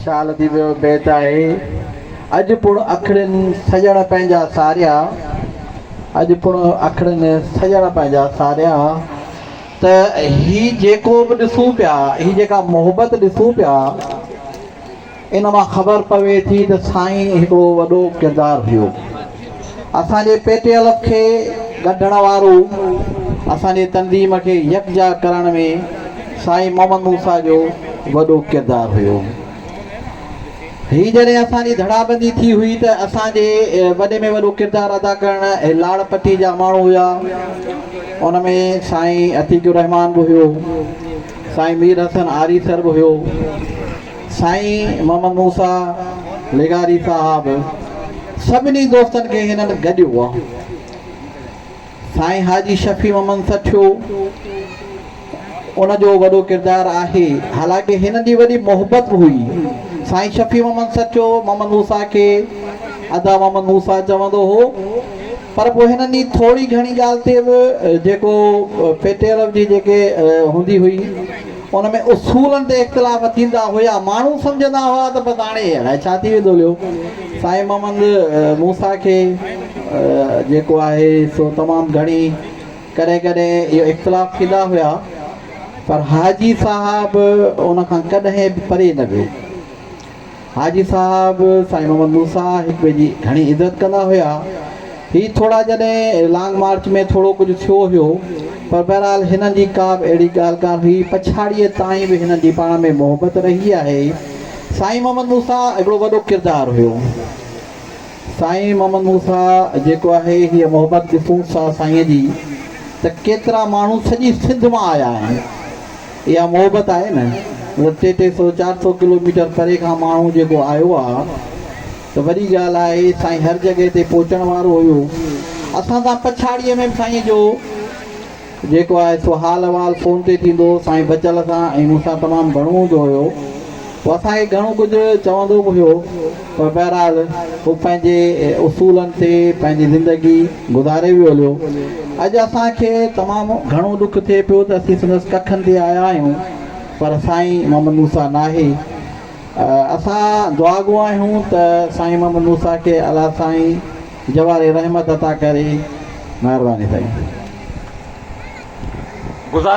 شال ٿي ويو بيت آهي اڄ پڻ اکڙين سڄڻ پنهنجا ساريا اڄ پڻ اکڙين سڄڻ پنهنجا ساريا ته هي جيڪو به ڏسون پيا هي جيڪا محبت ڏسون پيا ان مان خبر پوي ٿي ته سائين هڪڙو وڏو ڪردار هيو. اسان جي پي ٽي الف کي ڳنڍڻ وارو اسان جي تنظيم کي يڪجا ڪرڻ ۾ سائين محمد موسيٰ جو وڏو ڪردار هيو. هي جڏهن اسان جي ڌڙابندي ٿي هئي ته اسان جي وڏي ۾ وڏو ڪردار ادا ڪرڻ هي لاڙ پٽي جا ماڻهو هيا. ان ۾ سائين عتيق الرحمان به هيو. سائين مير حسن آريسر به هيو. سائين محمد موسيٰ لغاري صاحب سڀني دوستن کي هنن گڏيو هو. سائين حاجي شفيع محمد سٺيو ان جو وڏو ڪردار آهي، حالانڪه هنن جي وڏي محبت به هئي. سائين شفيع محمد سٺيو محمد موسيٰ کي ادا محمد موسيٰ چوندو هو، پر پوء هنن جي ٿوري گهڻي ڳالهه تي به جيڪو پيٽيرو جي جيڪي هوندي هئي، ان ۾ اصولن تي اختلاف ٿيندا هيا. ماڻهو سمجهندا هئا ته بس هاڻي الائي ڇا ٿي ويندو ليو. سائين محمد موسيٰ کي جيڪو آهي سو تمام گهڻي ڪڏهن ڪڏهن اهي اختلاف ٿيندا هيا پر حاجي صاحب ان کان ڪڏهن به پري نه ويو. حاجي صاحب، سائين محمد موسيٰ هڪ ٻئي جي گهڻي عزت ڪندا هيا. هي ٿورا جڏهن لانگ مارچ ۾ ٿورو ڪجهه ٿيو هيو، پر بهرحال هنن جي ڪا به اهڙي ڳالهه ڪانه هئي. پڇاڙيء تائين به هنن جي پاڻ ۾ محبت رهي آهي. سائين محمد موسيٰ هڪڙو وڏو ڪردار هيو. سائين محمد موسيٰ جيڪو آهي هيء محبت ڏسون ٿا سائينء جي ته ڪيترا ماڻهو سڄي سنڌ مان آيا آهن. اها محبت آهي نه مطلب ٽي ٽي سو چار سو ڪلو ميٽر پري کان ماڻهو جيڪو آيو آ ته وڏي ڳالهه آهي سائين هر جڳهه تي پهچڻ وارو هيو اسان سان پڇاڙيء ۾ به سائين جو جيڪو آهي سو حال احوال فون تي ٿيندو هو سائين بچل سان ۽ مون سان تمام گهڻو هوندو هيو هو اسان کي گهڻو ڪجهه چوندو به هيو پر بهرحال هو پنهنجي اصولن تي پنهنجي زندگي گذاري ويو هليو. اڄ اسان کي تمام گهڻو ڏک ٿئي پيو ته اسين سندس ڪکن تي آيا آهيون پر سائين محمد موسيٰ ناهي. اسان دعاگو آهيون ته سائين محمد موسيٰ کي الله سائين جواري رحمت عطا ڪري. مهرباني سائين. گذاري.